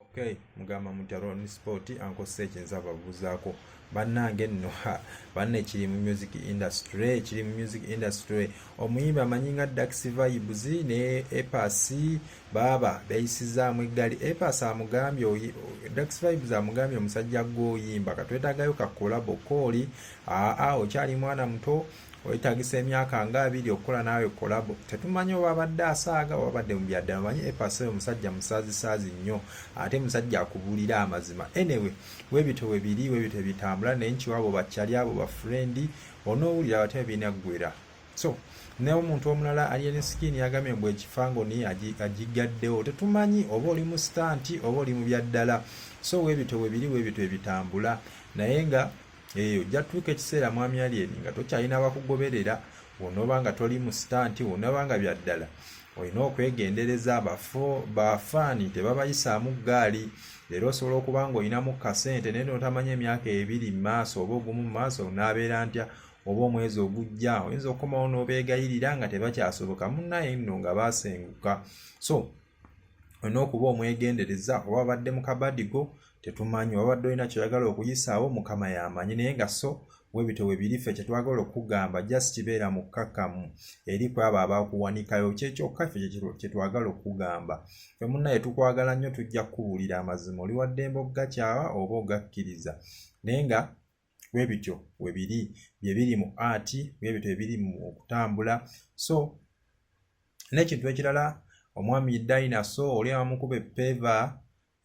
okay mugamba mutya ron sport ankozesa ekinza ababuuzaako bannange nno banne kiri mu music industry kiri mu music industry omuyimbi amanyi nga dax vibes ne epas baaba beyisizaamu eggali epas amugambye dax vibes amugambye omusajja gwoyimba katwetagayo kakolabo kooli aa okyali mwana muto wetagisa emyaka nga abiri okukola naawe kolabo tetumanyi oba abadde asaaga oba abadde mubyaddala manyi epasa oyo musajja musazisaazi nnyo ate musajja akubuulira amazima enewe webito webiri webito ebitambula naye nkiwaabo bakyali abo bafrendi onoowulira bate binaggwera so naye omuntu omulala ali ene sikini yagambye mbu ekifango ni agigaddewo tetumanyi oba oli mu sitanti oba oli mu byaddala so webito webiri webito ebitambula naye nga eyo eh, ojja tuuka ekiseera mwami alyeni nga tokyalina abakugoberera wonoba nga toli mu sitanti wonoba nga byaddala olina okwegendereza bafaani tebabayisaamu ggaali leero osobola okuba nga olinamu kasente naye notamanya emyaka ebiri mu maaso oba ogumu mu maaso naabeera ntya oba omwezi ogujja oyinza okukomawo n'obeegayirira nga tebakyasoboka munnaye nno nga baasenguka so olina okuba omwegendereza oba abadde mu kabadi go tetumanyi wabadde olina kyoyagala okuyisaawo mukama yamanyi naye nga so webito webirife kyetwagala okugamba just kibeera mukkakkamu eri ku abo abakuwanikayo kyekyokka ffe kyetwagala okugamba fe munaye tukwagala nnyo tujja kukubuulira amazima oli waddembe okugakyawa oba ogakkiriza naye nga webityo webiri byebiri mu art webityo ebiri mu okutambula so n'ekintu ekirala omwami dinaso oli abamukuba epeva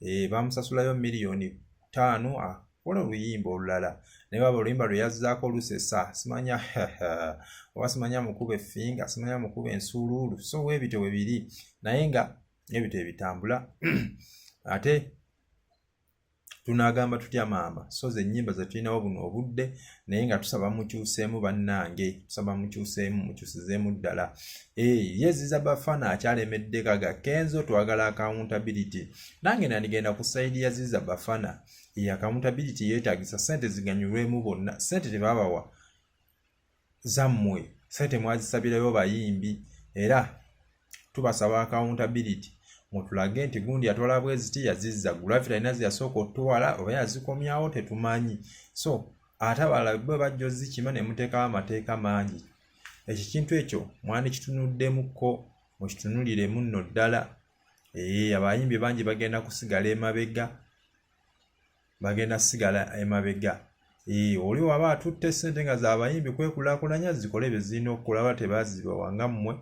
e, eh, bamusasulayo miliyoni taano akola ah, oluyimba olulala naye baba oluyimba lwe yazzaako olusesa simanya oba simanya mukuba efinga simanya mukuba ensuuluulu so webityo webiri naye nga ebityo ebitambula ate tunagamba tutya maama so ze nyimba zetulinawo buno obudde naye nga tusaba mukyuseemu bannange tusaba mukyuseemu mukyusizeemu ddala eh, yeziza bafana akyalemedde kaga kenzo twagala accountability nange nandigenda ku saidi ya ziza bafana ye accountability yeetagisa sente ziganyulwemu bonna sente tebabawa zammwe sente mwazisabirayo bayimbi era tubasaba accountability mutulage nti gundi yatwala bweziti yazizza gravity alina zeyasooka otutwala oba yazikomyawo tetumanyi so ate abalala bwe bajja ozikima ne muteekawo amateeka mangi ekyo kintu ekyo mwandikitunuddemuko mukitunuliremu nno ddala ee abayimbi bangi bagenda kusigala emabega bagenda sigala emabega ee oli waba atutte sente nga zabayimbi kwekulakulanya zikole bezirina okukola ba tebazibawa nga mmwe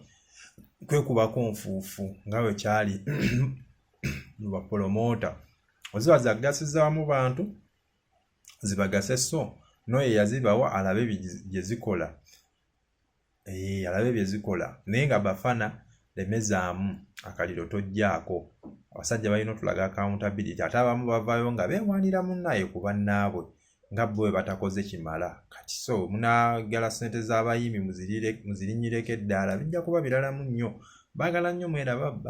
kwekubako nfuufu nga bwe kyali mu bapolomoota oziba zagasiza wamu bantu zibagase so noyo eyazibawa alabe gye zikola Eee, alabe bye zikola naye nga bafana lemezaamu akaliro tojjaako abasajja balina otulaga accountability ate abamu bavayo nga bewanira munnaye ku bannaabwe nga bwe batakoze kimala kati so munagala sente z'abayimbi muzirinyireko eddaala bijja kuba biralamu nnyo baagala nnyo mwerababba